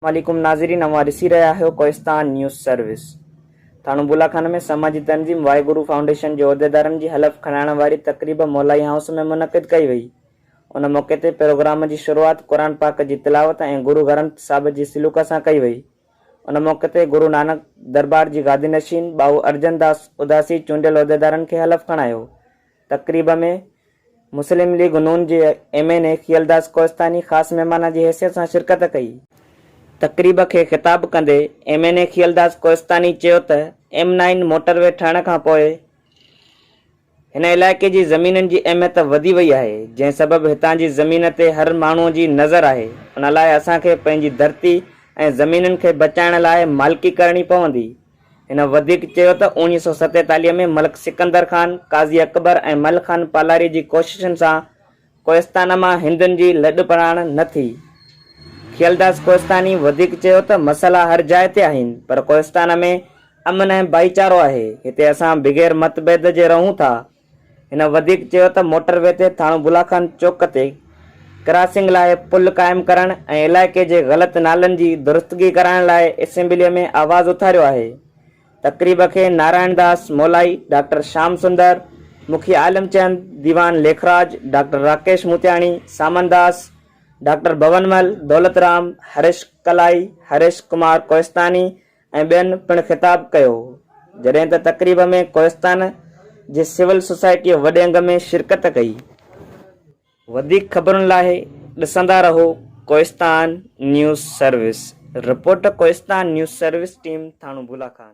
السلام عليڪم ناظرين اوهان ڏسي رهيا آهيو ڪوهستان نيوز سروس ٿاڻو بولا خانه ۾ سماجي تنظيم واحد گرو فائونڊيشن جي عهديدارن جي حلف کڻائڻ واري تقريب مولائي هائوس ۾ منعقد ڪئي وئي ان موقعي تي پروگرام جي شروعات قرآن پاڪ جي تلاوت ۽ گرو گرنٿ صاحب جي سلوڪ سان ڪئي وئي ان موقعي تي گرو نانڪ دربار جي گادي نشين ٻائو ارجن داس اداسي چونڊيل عهديدارن کي حلف کڻايو تقريب ۾ مسلم ليگ نون جي M N A Khaildas Kohistani خاص مهمان جي حيثيت سان شرڪت ڪئي. تقريب کي خطاب ڪندي M N A Khaildas Kohistani چيو ته ايم نائين موٽر وي ٺهڻ کان پوء هن علائقي جي زمينن جي اهميت وڌي وئي آهي جنهن سبب هتان جي زمين تي هر ماڻهو جي نظر آهي ان لاء اسان کي پنهنجي ڌرتي ۽ زمينن کي بچائڻ لاء مالڪي ڪرڻي پوندي. هن وڌيڪ چيو ته اوڻيهه سؤ ستيتاليهه ۾ ملڪ سڪندر خان، قاضي اڪبر ۽ مل خان پالاري جي ڪوششن سان ڪوهستان مان هندن جي لڏ پراڻ نه ٿي. کيلداس ڪوهستاني وڌيڪ چيو ته مسئلا هر جاء تي آهن پر ڪوهستان ۾ امن ۽ ڀائيچارو آهي، هتي اسان بغير متڀيد جي رهون ٿا، هن وڌيڪ چيو ته موٽر وي تي ٿاڻو بلا خان چوڪ تي ڪراسنگ لاء پل قائم ڪرڻ ۽ علائقي جي غلط نالن جي درستگي ڪرائڻ لاء اسيمبلي ۾ آواز اٿاريو آهي. تقريب کي نارائڻ داس مولائي، ڊاڪٽر شام سندر، مکي عالم چند، ديوان ليکراج، ڊاڪٽر راڪيش موتياڻي، سامان داس، ڊاڪٽر ڀونمل، دولت رام، هريش ڪلائي، هريش ڪمار ڪوهستاني، ۽ ٻين پڻ خطاب ڪيو جڏهن ته تقريب ۾ ڪوهستان جي سول سوسائٽيء وڏي انگ ۾ شرڪت ڪئي. وڌيڪ خبرن لاء ڏسندا رهو Kohistan news service report Kohistan news service team Thano Bula Khan.